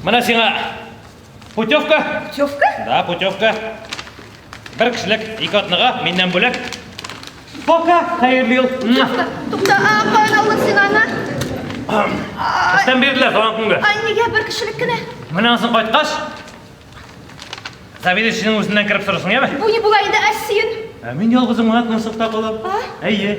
Менә сиңа путевка. Путевка? Да, путевка. Бер кешелек ике атнага миннән бүләк. Пока, хәерле ел. Тукта, а каян алдың син аны? Эштән бирделәр туган көнгә. Ай, нигә бер кешелек кенә? Менә ансын кайткач, заведующийның үзеннән кереп сорысын, яме? Бу ни була инде, Әсин? Ә мин ялгызым гына кунсыкта калам. Әйе.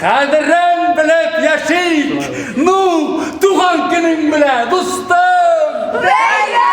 Кадерен белеп яшик! Ну, туган көнең белә, дустым! Бәйрәм!